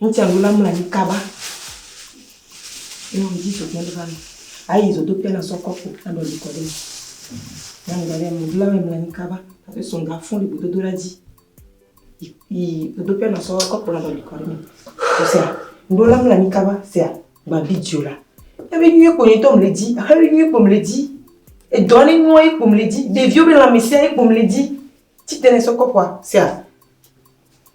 Ŋutsuavi la mlɔ anyi kaba eye wòdi zodoe aɖe va me. Ayi zodoƒea na sɔ kɔpu naɖo abi kɔ ɖe eme. Nyɔnu ɖe le megbe lɔe mlɔ anyi kaba hafi sɔ ga fũ le gbedodoɖa dzi yi yi zodoƒea na sɔ kɔpu naɖo abi kɔ ɖe eme. Ese ŋɖewo la mlɔ anyi kaba sea gba video la. Ebe nyuie kpo nye ŋutɔ mele dzi ehe be nyuie kpo mele dzi. Edɔ ne nyuie ye kpo mele dzi. Ɖeviwo be lãmesea ye kpo mele dzi. Tsi te ne sɔ kɔpua sea.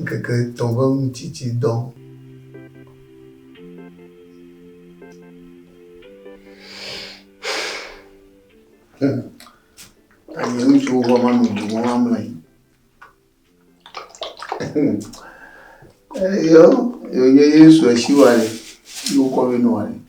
Ŋkeke etɔ̃ ƒe ŋutitsidɔ. Ayi ŋutsuwo va va nɔ dzi wɔm amlɔ anyi. Eyɔ yonye Yesu esiwa ɖe yi wokɔ vɛ nɔ ɖe.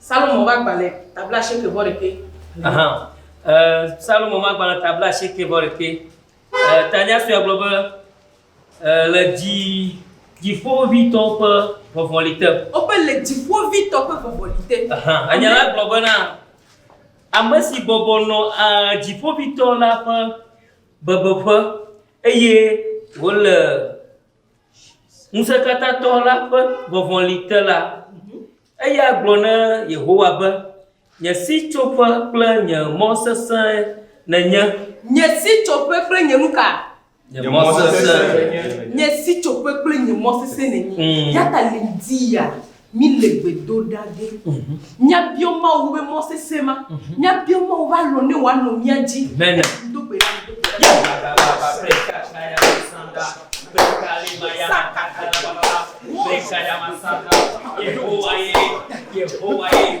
Salomo ƒe agbalẽ ta blaasieke vɔ ɖekɛ. Ahan. E, Salomo ƒe agbalẽ ta blaasieke vɔ ɖekɛ. E, tanya sue gblɔ be, e, le dzi, dziƒovitɔwo ƒe vɔvɔli te. Woƒe le dziƒovitɔ ƒe vɔvɔli te. Ahan. Enya la gblɔ bena, ame si bɔbɔ nɔ a, dziƒovitɔ la ƒe bebeƒe eye wòle. Ŋusẽkatãtɔ la ƒe vɔvɔli te la, eya gblɔ na Yehowa be, Nye sitsoƒe kple nye mɔ sesẽe nènye. Nye sitsoƒe kple nye nu ka? Nye mɔ sesẽe. Nye sitsoƒe kple nye mɔ sesẽe nènye. Eya ta ɣleti ya. Mi le gbe do ɖa be mia biɔ Mawu be mɔ sese ma, mia biɔ Mawu be alɔ ne wa nɔ mia dzi. Mi do gbe ɖa be. Yehowa ye, Yehowa ye,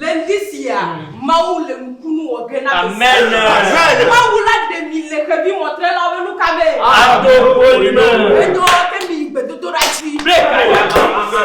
Le ŋdi sia, Mawu le nukunu wɔ ge na mi siwo. Mawu la ɖe mi le xevi mɔtrelawo ƒe nuka me? Ato ƒoli me. Enyɔ ke mi yi gbedodoɖa dzi. Ble ka ya la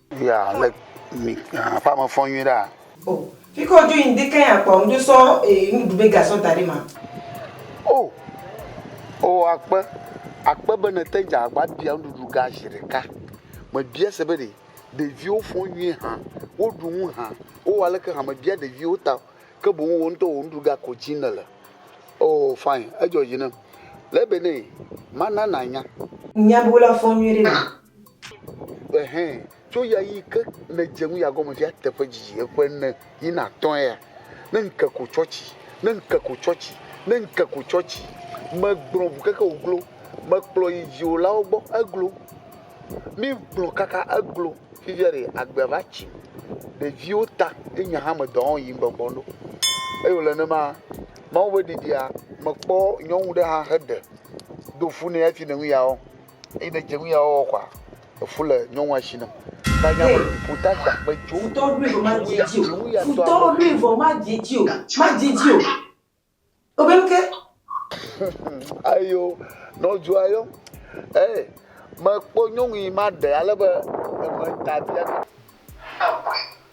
Via le mi aƒa me fɔ nyui ɖa. O, fi ke wodzo yi ŋdi keŋ akpɔ ŋdzo sɔ ee nuɖu be ga sɔ da ɖe ma. O, o akpe, akpe be nete dze agba bia nuɖuɖu ga zi ɖeka. Me bia se be ɖe ɖeviwo fɔ nyui hã, wo ɖu nu hã, wo wɔ aleke hã, me bia ɖeviwo ta o, ke boŋ wò ŋutɔ wò nuɖu ga ko dzi ne le. O, fine, edzɔ dzi nem. Le be ne, ma na na nya. Nya be wo la fɔ nyui ɖe na. Ɛhɛ, tso ɣeaɣi ke nèdze nu ya gɔme fia teƒe didi ƒe ene yi na atɔ̃ ya, ne ŋke ko tsɔ tsi, ne ŋke ko tsɔ tsi, ne ŋke ko tsɔ tsi. Megblɔ ŋu keke wòglo, mekplɔ yi dziwòlawo gbɔ, eglo. Mígblɔ kaka eglo, fifia ɖe agbea va tsi. Ɖeviwo ta ye nye hã medɔ wɔm yim gbɔgbɔ ɖo. Eye wòle nenema, Mawu ƒe ɖeɖia, mekpɔ nyɔnu ɖe hã heɖe do fu nɛ hafi le nu ya wɔm. Eyi ne dze ŋuya wɔwɔ kɔa, efu le nyɔnua shi nam. Tanya be, Futɔ agba kpe tso. Futɔ ɖoe vɔ madze edzi o. Futɔ ɖoe vɔ madze edzi o. Madze edzi o. Wobe nu ke. Ayo, nɔdzoa yɔm. Ee, mekpɔ nyɔnu yi maɖe ale be eme ta biabiam.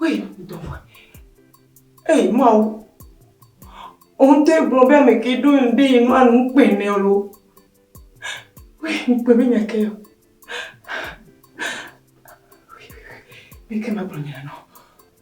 Wei, dɔwɔ. Ei, Mawu. Òun tẹ́ gblɔ be ame ke ɖo ŋɖe yi nua nu kpɛ nɛ lo. Wei, ŋkpɛ be nya ke. Wei, wei, wei. Meke magblɔ nya nɔ.